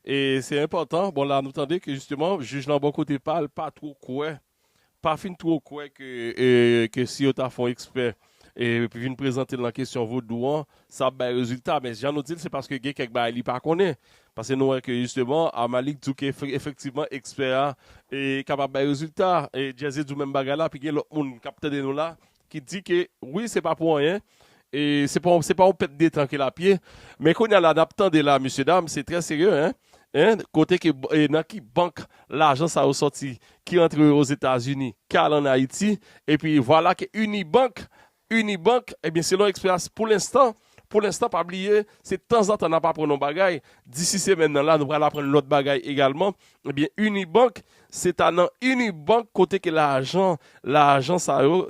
e se enpòtan bon la nou tande ke jisteman jij lan bò kote pa l pa two kwè pa fin two kwè ke si yo ta fon ekspè e pi vin prezante l nan kesyon vodou an sa ap bay rezilta men jan nou di l se paske gen kèk bagay li pa konnen pase nou wè ke jisteman a Malik di w ke efektivman ekspè a e kapab bay rezilta e Djèze di w menm bagay la pi gen lòt moun k ap tande nou la ki di ke wi se pa pou anyen e se pa se pa yon pèt de tan ke lap ye men kounye a la nap tande la mesye dam se trè serye hein hein kote ke nan ki bank lajan sa yo sòti ki rantre ozetazini ki al an ayiti epi vwala ke unibank unibank ebyen selon eksperyans pou lenstan Pou lenstan pa bliye se tanzantan nap aprann yon bagay, disi semèn nan la nou pral aprann lòt bagay egalman, ebyen Unibank se ta nan Unibank kote ke lajan lajan sa yo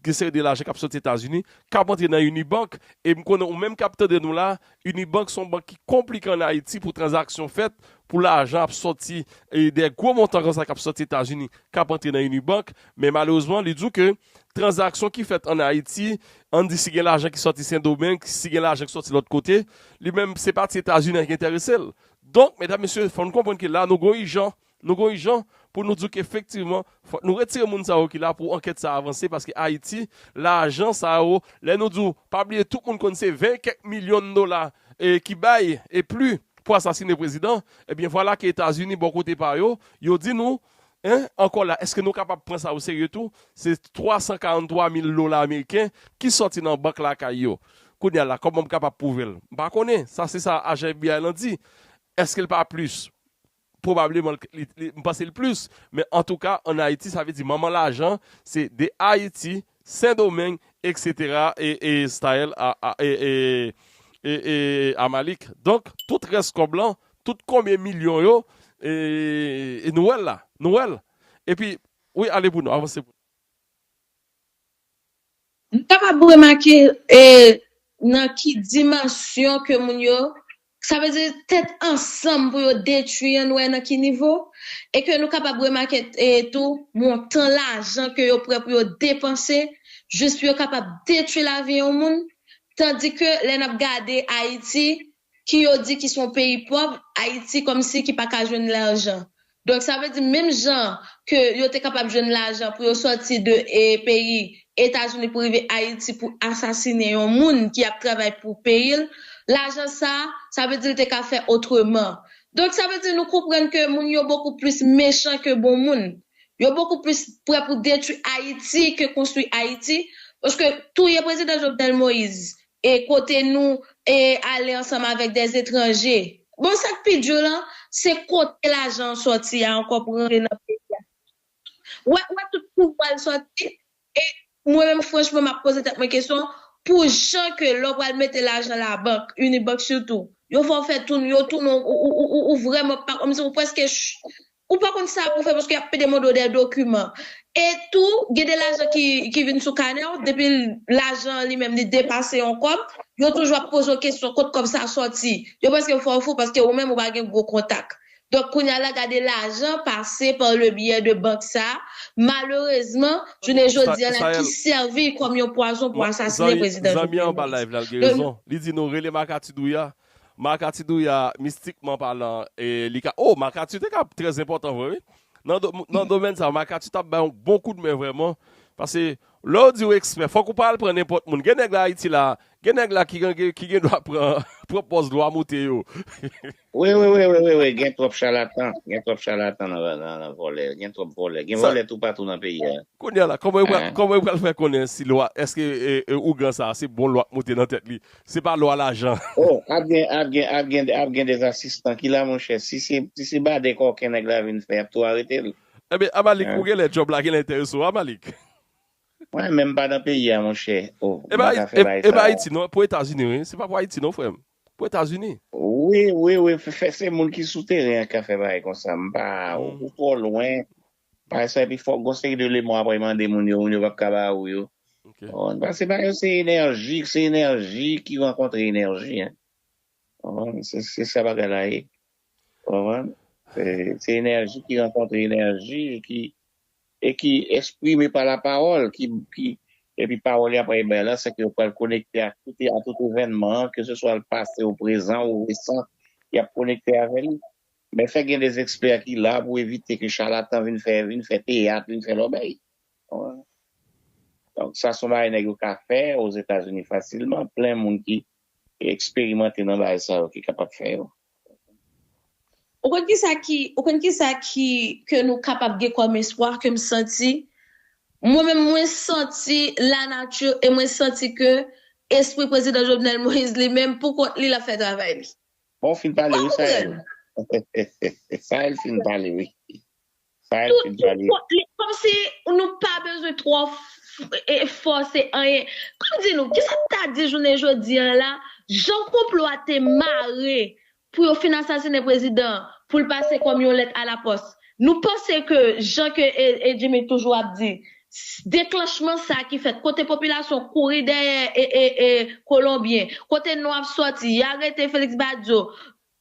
gen seri de lajan kap soti etazini kap antre nan Unibank e m konnen ou menm kap tande nou la Unibank son bank ki konplike an Ayiti pou tranzaksyon fèt pou lajan ap soti e dè gwo montan konsa kap soti etazini kap antre nan Unibank men malerezman li di w ke tranzaksyon ki fèt an Ayiti, ann di si gen lajan ki sòti Sendomeng, si gen lajan ki sòti lòt kote, li menm se pa ti Etazini an ki enterese l. Donk, medam, mesye, fò n konprann ke la nou gon ijan, nou gon ijan pou nou di w ke efektivman fòk nou retire moun sa yo ki la pou ankèt sa a avanse paske Ayiti, lajan sa yo, lè nou di w, pa bliye tout moun konn se 20 e kèk milyon dola ki bay e pli pou asasine prezidan, ebyen vwala ke Etazini bò kote pa yo, yo di nou, Hein ankò la eske nou kapab pran sa o serye tou se 343 mil dola ameriken ki sòti nan bank lakay yo kounya la kòman m kapab pwouvel m pa konnen sa se sa ajan FBI lan di eske l pa plis pwobableman l li m panse l plis men antouka an ayiti sa vle di manman lajan se de ayiti sendomeng etc ee stael a a ee ee amalik donk tout rès kòb lan Tout konbyen milyon yo e nou wèl la nou wèl epi wi ale pou nou avanse pou nou. Nou kapab remake e nan ki dimansyon ke moun yo sa vle di tèt ansanm pou yo detwi an nou wè nan ki nivo e ke nou kapab remake e tou montan lajan ke yo prè pou yo depanse jis pou yo kapab detwi lavi yon moun tandike lè nap gade ayiti ki yo di ki son peyi pòv ayiti kòmsi ki paka jwenn lajan donk sa vle di menm jan ke yo te kapab jwenn lajan pou yo sòti de peyi etazini pou rive ayiti pou asasine yon moun ki ap travay pou peyil lajan sa sa vle di li te ka fè otreman donk sa vle di nou konprann ke moun yo bokou plis mechan ke bon moun yo bokou plis prè pou detwi ayiti ke konstwi ayiti paske touye prezidan jovenel moïse E kote nou e ale ansanm avèk dè etranje. Bon sak pi dur lan se kote lajan an sòti a ankò pou rantre nan peyi a. Wè wè tout pouvwa l sòti e mwen menm franchman map poze tèt mwen kesyon pou jan ke lè w pral mete lajan labank, Unibank sitou, yo fè w fè tou yo tounen w ou vrèman pa kòmsi ou prèske Ou pa konn sa pou fè paske yap demande w dè dokiman. E tou gen de lajan ki vin sou kanè w depi lajan an li menm li depase yon kòb, yo toujou ap poze w kesyon kot kòb sa sòti. Yo panse yo fè w fou paske ou menm ou pa gen gwo kontak. Donk kounye a la gade lajan pase par le biyè de bank sa malerezman jounen jodi a la ki sèvi kòm yon pwazon pou asasinen prezidan Jovenel Moïse. Zanmi an anba live la l gen rezon. Li di nou rele Makati Douya Marcatty Douya mistikman palan li ka oh Marcatty te ka trè enpòtan vre wi nan domèn sa Marcatty tap bay yon bon kout men vrèman pase lè yo diw ekspè fòk ou pa al pran nenpòt moun gen nèg la Ayiti la gen nèg la ki gen dwa pran pran pòz lwa moute yo. Wi wi wi wi wi gen twòp chalatan gen twòp chalatan nan vòlè gen twòp vòlè gen vòlè tou patou nan peyi a. Kounya la kòman yo pral fè konnen si lwa èske ougan sa se bon lwa k moute nan tèt li Se pa lwa lajan. Oh ap gen ap gen ap gen ap gen des asistan ki la monchè si se si se badè kòken nèg la vin fè yap tou arete l. Ebyen Amalik ou genlè djòb la genlè enterese w Amalik. Mwen menm pa nan peyi a monchè oh m pa ka fè bagay sa. E pa Ayiti non pou etazini wi se pa pou Ayiti non frè m pou etazini. Wi wi wi fè se moun ki sou teren an ki ka fè bagay konsa m pa ou twò lwen Bagay sa epi fok gon seri de lemon apre mande moun yo, moun yo pap ka ba ou yo. Ou konprann? Pase bagay yo se enèji, se enèji ki rankontre enèji. Ou konprann? Se sa bagay la ye. Ou konprann? Se enèji ki rankontre enèji e ki esprime pa la pawòl ki epi pawòl yo apre bay la se ke yo pral konekte ak tout evènman an ke se swa l pase ou prezan ou resan yap konekte avè li. Men fèk gen des expè ki la pou evite ke chalatan vin fè vin fè teyat, vin fè lòbèy. Donk sa son bagay nèg yo ka fè Ozetazini fasilman, plen moun ki eksperimante nan bagay sa yo ki kapab fè yo. Ou konn kisa ki, ou konn kisa ki ke nou kapab gen kòm espwa ke m santi? Mwen menm mwen santi la nature e mwen santi ke espri Prezidan Jovenel Moïse li menm pou kont li l ap fè travay li. Bon w fin pale wi Sael. Sael fin pale wi. Sael fin pale. Kom si nou pa bezwen tro fose anyen. Kom di nou, kisa m ta di jounen jodi an la, jan konplo a te mare pou yo fin asasinen prezidan an, pou l pase kom yon lèt alapos. Nou panse ke jan ke Jimmy toujou ap di, Deklanchman sa ki fèt kote popilasyon kouri dèyè kolonbyen, kote nou ap sòti, ya rete Félix Badio,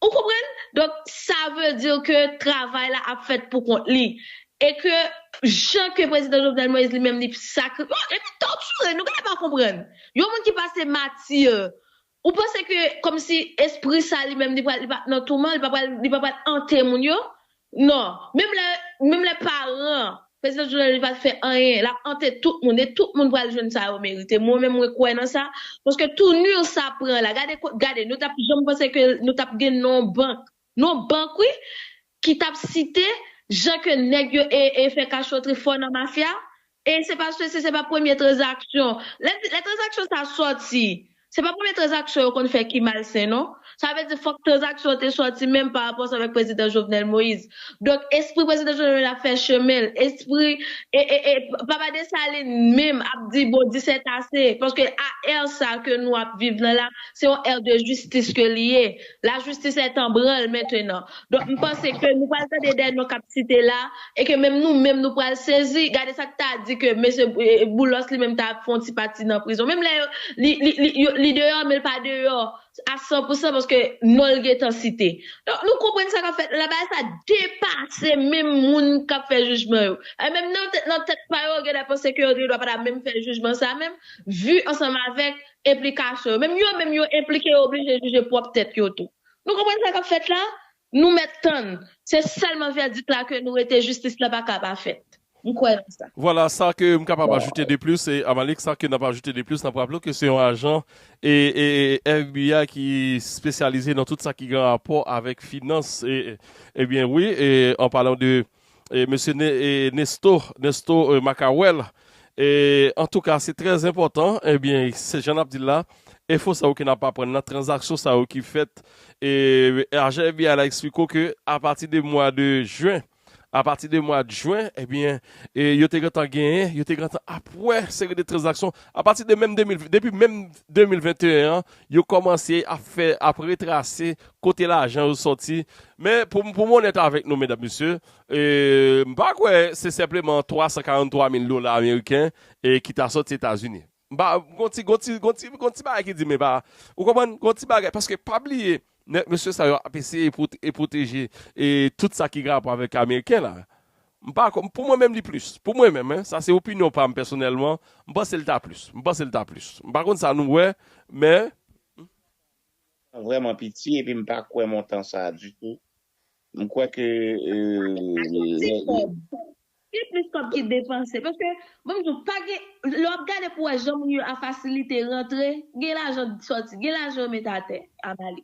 ou konprann? Donk sa vle di ke travay la ap fèt pou kont li e ke jan ke Prezidan Jovenel Moïse li menm li sakri, bon, li te tòture, nou genlè pa konprann. Yon moun ki pase matir Ou panse ke kòmsi espri sa li menm li pral li pa nan touman li pa pral li pa pral ante moun yo non menm lè menm lè paran prezidan Jovenel li pat fè anyen lap ante tout moun e tout moun pral jwenn sa yo merite mwen menm mwen kwè nan sa paske tounur sa pran la gade kot gade nou tap janm panse ke nou tap gen non bank Non bank wi ki tap site jan ke nèg yo e fè kachotri fò nan mafya e se paske se se pa premye tranzaksyon lè lè tranzaksyon sa sòti se pa premye tranzaksyon yo konn fè ki malsen non sa vle di fòk tranzaksyon te sòti menm pa rapò sa avèk prezidan Jovenel Moïse donk espri prezidan Jovenel Moïse ap fè chemenl espri e e e papa Dessalines menm ap di bon di sètase paske a èr sa ke nou ap viv nan la se yon èr de jistis ke li ye. La justice est en branle maintenant. Donk m panse ke nou pral tande dè non k ap site la e ke menm nou menm nou pral sezi. Gade sa k ta di ke mesye Boulos li menm ta fon ti pati nan prizon. Menm lè yo li deyò men l pa deyò a san pou san paske non l gen tan site. Donk nou konprann sa k ap fèt la. Bagay sa depase menm moun k ap fè jijman yo. E menm nan tèt pa yo yo gen lè panse ke yo gen dwa pa ta menm fè jijman sa menm vu ansanm avèk enplikasyon yo menm yo menm yo enplike yo oblije jije pwòp tèt yo tou nou konprann sa kap fèt la nou mèt tann se sèlman vèdik la ke nou rete jistis la paka pa fèt m kwè nan sa. Vwala sa ke m kapab ajoute de plis e Amalik sa ke nap ajoute de plis nap raple w ke se yon ajan e FBI ki spesyalize nan tout sa ki gen rapò avèk finans e ebyen wi e an palan de Mesye Nesto, Nesto Makawèl, antouka se trè enpòtan, ebyen se jan n ap di l la, enfo sa yo ke n ap aprann nan, tranzaksyon sa yo ki fèt, ajan FBI la esplike w ke apati de mwa de jen, apati de mwa de jwen, ebyen yo te gentan genyen, yo te gentan ap wè seri de tranzaksyon, apati de menm, depi menm 2021 an, Yo kòmanse ap fè, ap retrase kote lajan yo sòti. Men, pou m pou m onèt avèk nou, medam, mesye, m pa kwè se senpleman 343 mil dola ameriken ki ta sòti Etazini. M pa, gon ti, gon ti, gon ti, gon ti bagay ki di m epa, ou konprann, gon ti bagay, paske pa bliye, nèg mesye sa yo ap eseye pou e pwoteje e tout sa ki gen rapò avèk ameriken la. M pa kwè, pou mwen menm li plis. Pou mwen menm hein, sa se opinyon pa m pèsonèlman, m panse l ta plis. M panse l ta plis. M pa konn sa nou wè, men. Montan vrèman piti epi m pa kwè montan sa a ditou. M kwè ke lè. Gen plis kòb ki depanse. Paske, ban m di w, pa gen, lè w ap gade pou w wè jan moun yo a fasilite rantre, gen lajan k sòti, gen lajan yo mete atè, a Malik.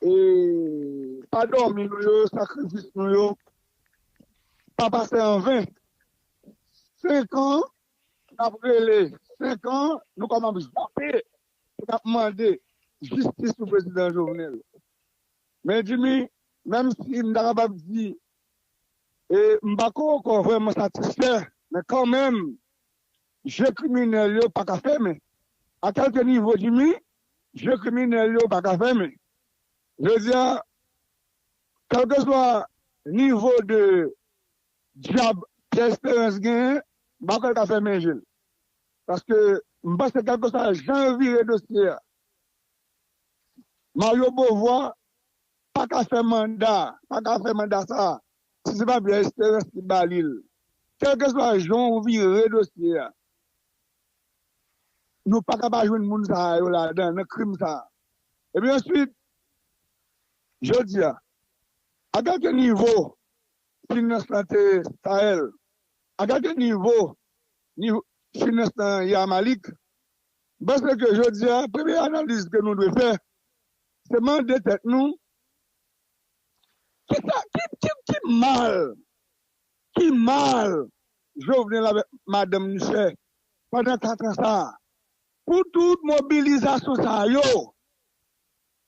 E pa dòmi nou yo, sakrifis nou yo pa pase an ven. Senk an n ap rele, senk an nou kòm ap jape pou n ap mande jistis pou prezidan Jovenel. Men Jimmy, menm si m ta kapab di e m pa ko kò vrèman satisfè, men kanmenm Je kriminèl yo pa ka fèmen. A kèlke nivo Jimmy, je kriminèl yo pa ka fèmen. Jodi a, kèlkeswa nivo de dyab Pierre Espérance genyen, m pa kwè l ka fèmen je l. Paske m panse kèlkeswa jan yo vire dosye a, Mario Beauvoir pa ka fè manda, pa ka fè manda sa a. Si se pa Pierre Esperance ki ba li l. Kèlkeswa jan w vire dosye a, nou pa ka pa jwenn moun sa yo ladan nan krim sa a. Epi answit, jodi a, a gad ki nivo finans lan te Sahel, a gad ki nivo finans lan Ya Malik, m panse ke jodi a, premye analiz ke nou dwe fè, se mande tèt nou, Ki sa ki ki ki mal ki mal Jovenel avèk madanm li fè pandan 4 ans sa a? Pou tout mobilizasyon sa a yo?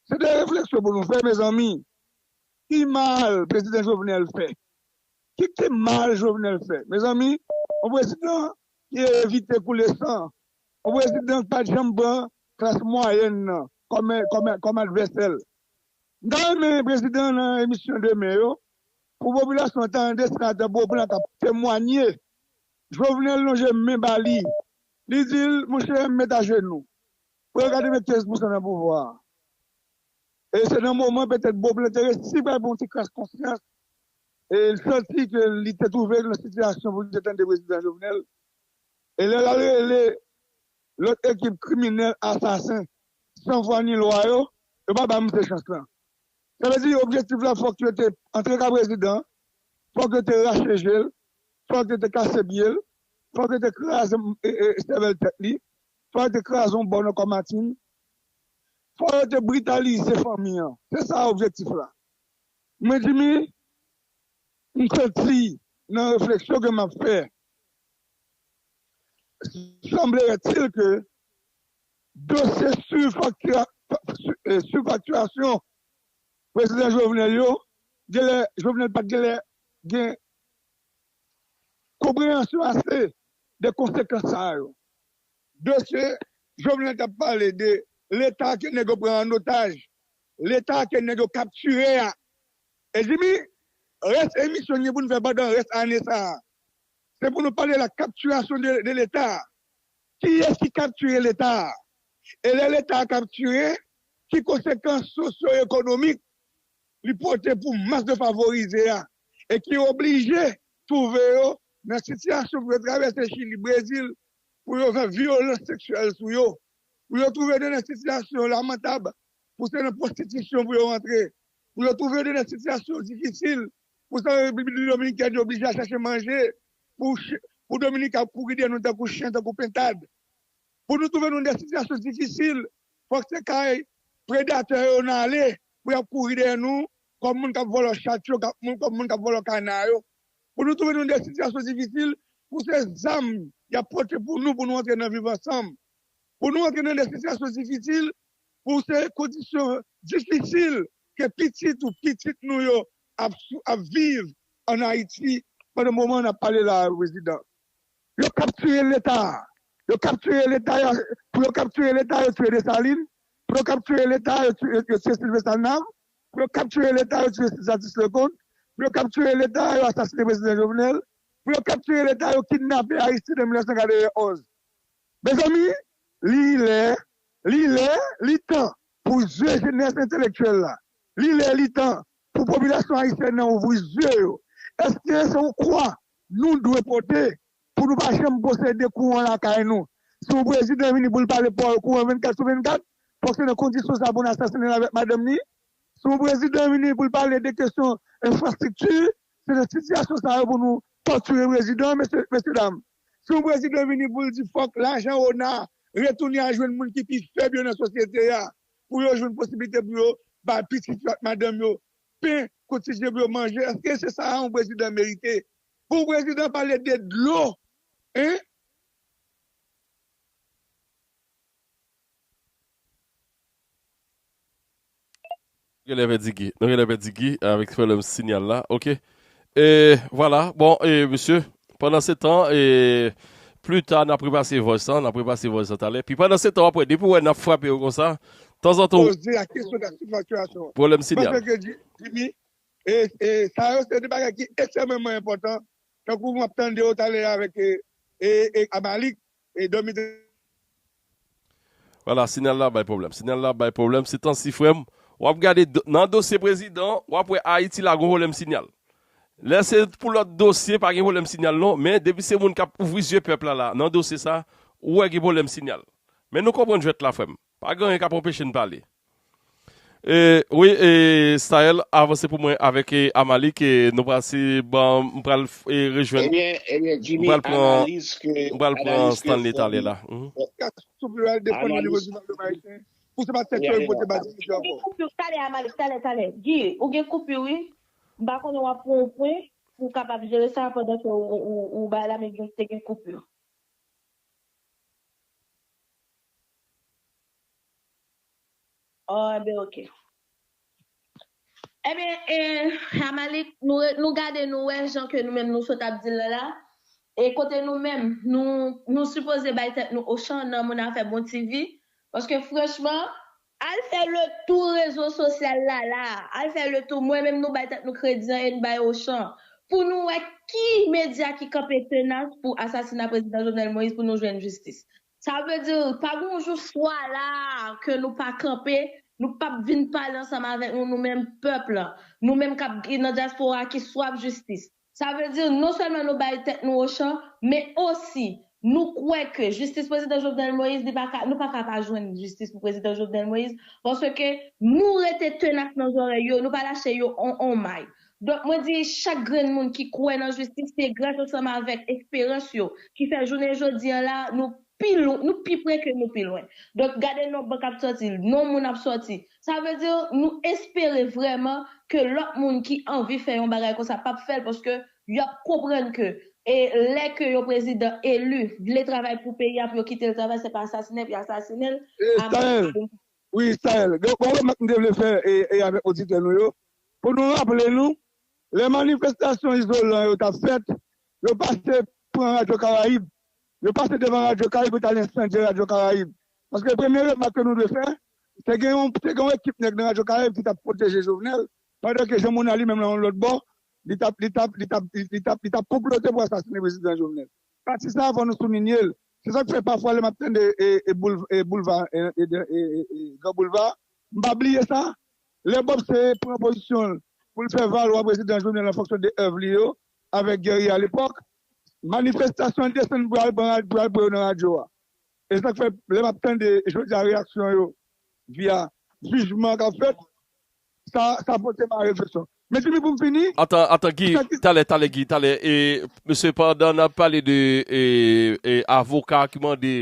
Se 2 refleksyon pou nou fè mezanmi. Ki mal prezidan Jovenel fè? Ki ki mal Jovenel fè? Mezanmi, yon prezidan ki evite koule san, yon prezidan ki pa t janm pran klas mwayèn nan kòm kòm kòm advèsè l. M ta renmen prezidan nan emisyon demen yo pou popilasyon an tande senatè Beauplan kap temwanye Jovenel lonje men ba li, li di l monchè m met ajenou pou yo ka te met 15 pousan nan pouvwa a. E se nan moman petèt Beauplan te resi pral pran yon ti kras konsyans e l santi ke li te twouve l nan sitiyasyon pou l te tande prezidan Jovenel e lè l al rele Lòt ekip kriminèl, asasen, san fwa ni lwa yo, yo pa bay misye chans lan. Sa vle di objektif la fòk yo te antre kay prezidan, fòk yo te rache je l, fòk yo te kase pye l, fòk yo te kraze sèvèl tèt li, fòk yo te kraze yon bò nan kò Martine, fòk yo te britalize fanmi an. Se sa objektif la. Mwen Jimmy, m santi nan refleksyon ke m ap fè, Semblerait-il que dosye surfacturation Prezidan Jovenel yo, genlè Jovenel pat genlè gen comprehension assez de konsekans sa yo. Dosye Jovenel tap pale de leta ke nèg yo pran an otaj, leta ke nèg yo kaptire a. Edimi, rès emisyon n gen pou n fè pandan rès ane sa a, Se pou nou pale la capturation de leta a. Kiyès ki capture leta a? E lè leta a capture, ki konsekans sosyo-ekonomik li pote pou mas defavorize a e ki oblije twouve yo nan sitiyasyon pou yo travèse Chili, Brezil, pou yo fè vyolans seksyèl sou yo, pou yo twouve yo nan sitiyasyon lamantab pou se nan pwostitisyon pou yo antre, pou yo twouve yo nan sitiyasyon difisil Pou sa yo Repiblik Dominikèn yo oblije al chache manje pou pou Dominika ap kouri dèyè nou tankou chen tankou pentad. Pou nou twouve nou nan dè sitiyasyon difisil fòk se kay predatè yo nan ale pou y ap kouri dèyè nou kòm moun k ap vòlò chat yo kap moun kòm moun k ap vòlò kana yo. Pou nou twouve nou nan dè sitiyasyon difisil pou se zam y ap pote pou nou pou nou antre nan viv ansanm. Pou nou antre nan dè sitiyasyon difisil pou se kondisyon difisil ke pitit ou pitit nou yo ap viv an Ayiti pandan moman n ap pale la a, prezidan. Yo kaptire leta a, yo kaptire leta a, pou yo kaptire leta a yo tiye Desalin, pou yo kaptire leta a yo tiye Silve Salnave, pou yo kaptire leta a yo tiye Satis Lekont, pou yo kaptire leta a yo asasine prezidan Jovenel, pou yo kaptire leta a yo kidnape Aristide an 1991. Mezanmi, li lè, li lè, li tan pou zye jenès entelektyèl la, li lè, li tan pou popilasyon ayisyèn nan ouvri zye yo. Èske se yon kwa nou dwe pote pou nou pa janm posede kouran lakay nou? Si yon prezidan vini pou l pale pa w kouran 24 sou 24, fòk se nan kondisyon sa pou n asasinen l avèk madanm ni? Si yon prezidan vini pou l pale de kesyon enfrastrikti, se nan sitiyasyon sa yo pou nou tòtire prezidan an, mesyedam? Si yon prezidan vini pou l di fòk lajan ona retounen al jwenn moun ki pi fèb yo nan sosyete a pou yo jwenn posiblite pou yo bay pitit yo ak madanm yo pen kotidyen pou yo manje èske se sa a yon prezidan merite? Pou yon prezidan pale de dlo hein? Nou genlè vè digi. Nou genlè vè digi avèk problèm sinyal la ok. E vwala bon e mesye pandansetan e plita nap repase voice lan nap repase voice lan talè pi pandansetan wap wè depiw wè nap frape yo konsa tanzantan ou Poze a kesyon da sifaktyasyon an. Pwoblèm sinyal. Mwen panse ke Jimmy e e sa yo se de bagay ki ekstrèmeman enpòtan tankou wap tande yo talè avèk e e Malik E domi de. Wala sinyal la bay pwoblèm. Sinyal la bay pwoblèm se tan si frèm wap gade nan dosye prezidan wap wè ayiti la gon pwoblèm sinyal lè se pou lòt dosye pa gen pwoblèm sinyal non men depi se moun kap ouvri zye pèp la la nan dosye sa ou wè gen pwoblèm sinyal men nou konprann jwèt la frèm. Pa gen anyen kap anpeche n pale. Wi Staël avanse pou mwen avèk Amalik nou pral se ban m pral rejwenn m pral pran m pral pran Stanley talè la. Oh ebyen ok. Ebyen e Hamalik nou gade nou wè jan ke nou menm nou sot ap dil la la e kote nou menm nou nou sipoze bay tèt nou ochan nan moun afè bon ti vi paske franchman. Al fè le tou rezo sosyal la la a al fè le tou mwen menm nou bay tèt nou kredi an e nou bay ochan pou nou wè ki medya ki kanpe tenas pou asasina prezidan Jovenel Moïse pou nou jwenn jistis Sa vle di pa gen yon jou swa la ke nou pa kanpe, nou pap vin pale ansanm avèk nou, nou menm pèp la, nou menm k ap nan dyaspora ki swaf jistis. Sa vle di non sèlman nou bay tèt nou ochan, men osi nou kwè ke jistis Prezidan Jovenel Moïse li pa ka, nou pa ka pa jwenn jistis pou Prezidan Jovenel Moïse, paske nou rete tenas nan zòrèy yo, nou pa lache yo on may. Donk mwen di chak grenn moun ki kwè nan jistis se gras ansanm avèk esperans yo ki fè jounen jodi an la nou pi nou pi pre ke nou pi lwen. Donk gade non bank ap sòti, non moun ap sòti. Sa vle di nou espere vrèman ke lòt moun ki anvi fè yon bagay konsa pap fèl paske yo ap konprann ke e lè ke yon prezidan eli vle travay pou peyi a pou yo kite l travay se pa asasine yap asasine l. Esther, Wi Staël, gen yon remèk m te vle fè avèk oditè nou yo, pou nou raple nou, lè manifestasyon izolan yo t ap fèt, yo pase pran Radyo Karayib, yo pase devan Radyo Karayib pou yo t al ensandye Radyo Karayib. Paske premye remak ke nou dwe fè, te gen yon ekip nèg nan Radyo Karayib ki t ap pwoteje Jovenel, pandan ke Jean Monnet li menm nan yon lòt bò, li t ap konplote pou asasine Prezidan Jovenel. Pati sa a fò nou soulinye l. Se sa k fè pafwa lè m ap tande Boulva, Gran Boulva, m pa bliye sa. Lè Bòb se pran pozisyon l pou l fè valwa prezidan Jovenel an fonksyon de èv li yo avèk Guerrier alepòk, manifestasyon l desann pou y al pran yo nan radyo a. E se sa k fè lè m ap tande jodi a reyaksyon yo via jijman k ap fèt. Sa sa pote ma refleksyon. Mezanmi pou m fini, Antan antan Guy, sa ki. talè talè Guy talè e mesye pandan n ap pale de e e avoka ki mande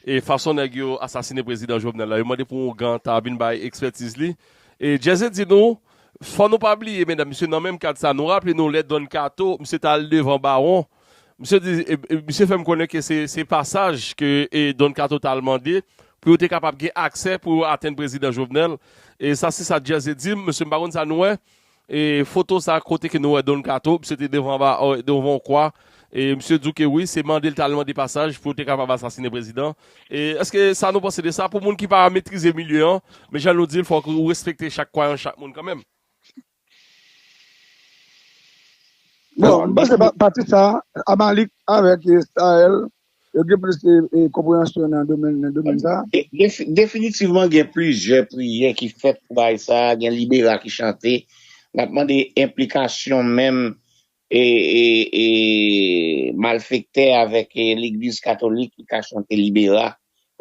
e fason nèg yo asasine prezidan Jovenel la yo mande pou ougan ta vin bay ekspètiz li e Jerzy di nou fò nou pa bliye medam mesye nan menm kad sa nou raple nou lè Don Kato mesye t al devan bawon Misye di, misye fè m konnen ke se pasaj ke Don Kato t al mande pou yo te kapab gen aksè pou yo atenn Prezidan Jovenel. E sa se sa Jerzy di m. Mesye m pa konn sa nou wè. E foto sa kote ke nou wè Don Kato? Misye te devan anba devan yon kwa. E misye di w ke wi se mande l t al mande pasaj pou yo te kapab asasinen Prezidan. E eske sa nou panse de sa? Pou moun ki pa metrize milye an, men jan nou di l fòk ou respekte chak kwayan chak moun kanmenm. Non, m panse pati sa a, Malik avèk Sahel, yo gen plis konpreyansyon nan domèn sa a. Definitivman gen plizyè priyè ki fèt pou bagay sa a, gen libera ki chante, n ap mande enplikasyon menm malfektè avèk legliz katolik ki ka chante libera.